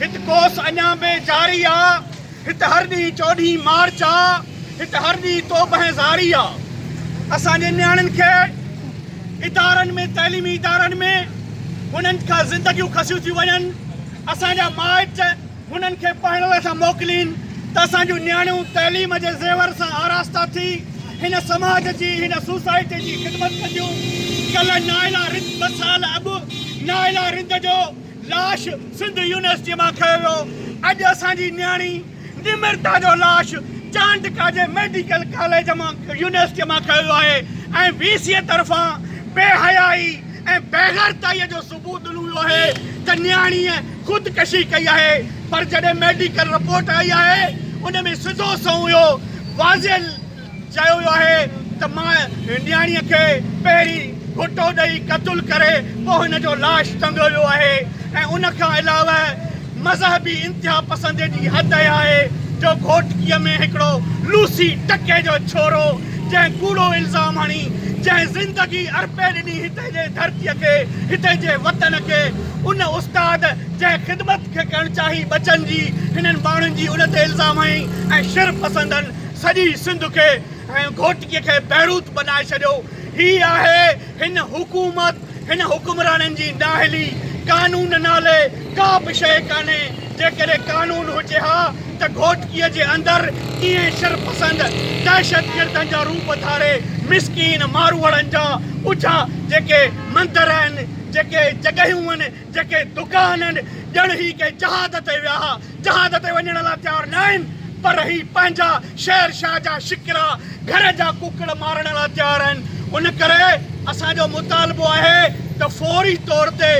هت ڪوس اڃا به جاري آ. هت هر ڏينهن چوڏهين مارچ آ. هت هر ڏينهن توبه ۽ زاري آ. اسان جي نياڻين کي ادارن ۾ تعليمي ادارن ۾ هنن کان زندگيون کسيون ٿيون وڃن. اسان جا مائٽ انهن کي پڙهڻ لاء ٿا موڪلين ته اسان جون نياڻيون تعليم جي زيور سان آراسته ٿي هن سماج جي، هن سوسائٽي جي خدمت ڪنديون. ڪلهه نائلا رند ٻه سال اڳ نائلا رند جو لاش سنڌ يونيورسٽيء مان کنيو ويو. اڄ اسان جي نياڻي نمرتا جو لاش چانڊڪا جي ميڊيڪل ڪاليج مان يونيورسٽيء مان کنيو ويو آهي ۽ وي سيء طرفان بي حيائي ۽ بيغيرتائيء جو پوتلو اهو آهي ته نياڻيء خودڪشي ڪئي آهي پر جڏهن ميڊيڪل رپورٽ آئي آهي ان ۾ سڌو سنئون اهو واضح چيو ويو آهي ته ماء نياڻيء کي پهرين گهوٽو ڏئي قتل ڪري پوء هن جو لاش ٽنگيو ويو آهي ۽ ان کان علاوه مذهبي انتهاپسند ايڏي حد تي آهي جو گهوٽڪيء ۾ هڪڙو لوسي ٽڪي جو ڇورو جنهن ڪوڙو الزام هڻي جنهن زندگي ارپي ڏني هتي جي ڌرتيء کي، هتي جي وطن کي، ان استاد جنهن خدمت کي ڪرڻ چاهي ٻچن جي هنن ماڻهن جي ان تي الزام هنئي ۽ شر پسندن سڄي سنڌ کي ۽ گهوٽڪي کي بيروت بنائي ڇڏيو. هي آهي هن حڪومت، هن حڪمرانن جي نااهلي، قانون نالي ڪا به شيء ڪانهي، جيڪڏهن قانون هجي ها ته گهوٽڪيء جي اندر ائين شرپسند دهشتگردن جا روپ ڌاري مسڪين ماروئڙن جا اجها جيڪي مندر آهن، جيڪي جڳهيون آهن، جيڪي دڪان آهن، ڄڻ هي ڪنهن جهاد تي ويا ها. جهاز تي وڃڻ لا تيار ناهن پر هي پنهنجا شهر شاهه جا شڪرا گهر جا ڪوڪڙ مارڻ لا تيار آهن ان ڪري اسان جو مطالبو آهي ته فوري طور تي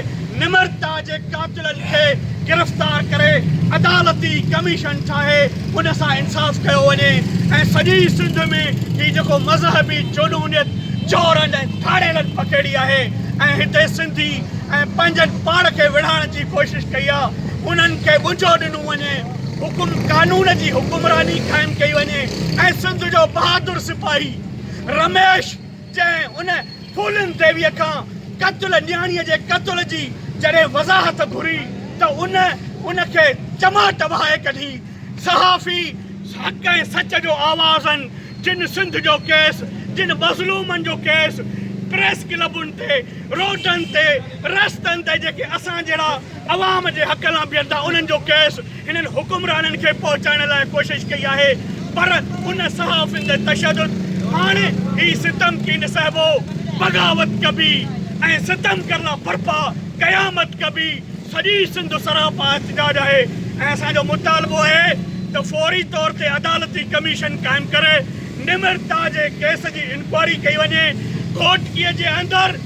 نمرتا جي قاتلن کي گرفتار ڪري عدالتي ڪميشن ٺاهي ان سان انصاف ڪيو وڃي ۽ سڄي سنڌ ۾ هي جيڪو مذهبي جنونيت چورن ۽ ڌاڙيلن پکيڙي آهي ۽ هتي سنڌي ۽ پنهنجن پاڻ کي وڙهائڻ جي ڪوشش ڪئي آهي انهن کي ٻجهو ڏنو وڃي، حڪم قانون جي حڪمراني قائم ڪئي وڃي ۽ سنڌ جو بهادر سپاهي رميش جنهن ان ڦولين ديويء کان قتل نياڻيء جي قتل جي جڏهن وضاحت گهري ته ان ان کي چماٽ وهائي ڪڍي. صحافي حق ۽ سچ جو آواز آهن جن سنڌ جو ڪيس جن مظلومن جو ڪيس پريس ڪلبن تي روڊن تي رستن تي جيڪي اسان جهڙا عوام جي حق لاء بيهن ٿا انهن جو ڪيس هنن حڪمرانن کي پهچائڻ لاء ڪوشش ڪئي آهي پر ان صحافين تي تشدد هاڻي هي ستم ڪين سهبو بغاوت ڪبي ۽ ستم ڪرڻا برپا قيامت ڪبي سڄي سنڌ سراپا احتجاج آهي ۽ اسان جو مطالبو آهي ته فوري طور تي عدالتي ڪميشن قائم ڪري نمرتا جي ڪيس جي انڪوائري ڪئي وڃي گهوٽڪي جي اندر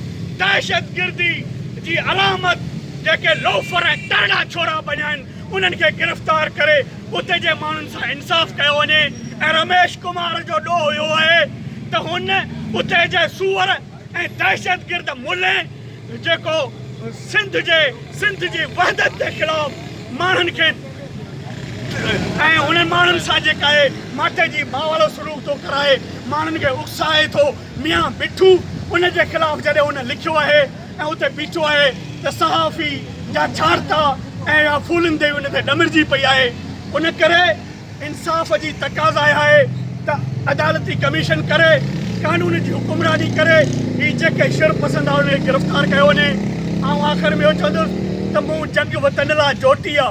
دهشتگردي جي علامت جيڪي لوفر ۽ ترڙا ڇورا بنيا آهن انهن کي گرفتار ڪري اتي جي ماڻهن سان انصاف ڪيو وڃي ۽ رميش ڪمار جو ڏوهه اهو آهي ته هن اتي جي سوئر ۽ دهشتگرد ملين جيڪو سنڌ جي سنڌ جي وحدت جي خلاف ماڻهن کي ۽ انهن ماڻهن سان جيڪا اهي ماٺي جي ماء وارو سلوڪ ٿو ڪرائي ماڻهن کي اڪسائي ٿو ميان مٺو ان جي خلاف جڏهن هن لکيو آهي ۽ اتي بيٺو آهي ته صحافي جا ڇاڙتا ۽ اها ڦولندي ان تي ڏمرجي پئي آهي ان ڪري انصاف جي تقاضا اها آهي ته عدالتي ڪميشن ڪري قانون جي حڪمراني ڪري هي جيڪي شر پسند آهي انهن کي گرفتار ڪيو وڃي آئون آخر ۾ اهو چوندس ته مون جنگ وطن لا جوٽي آ.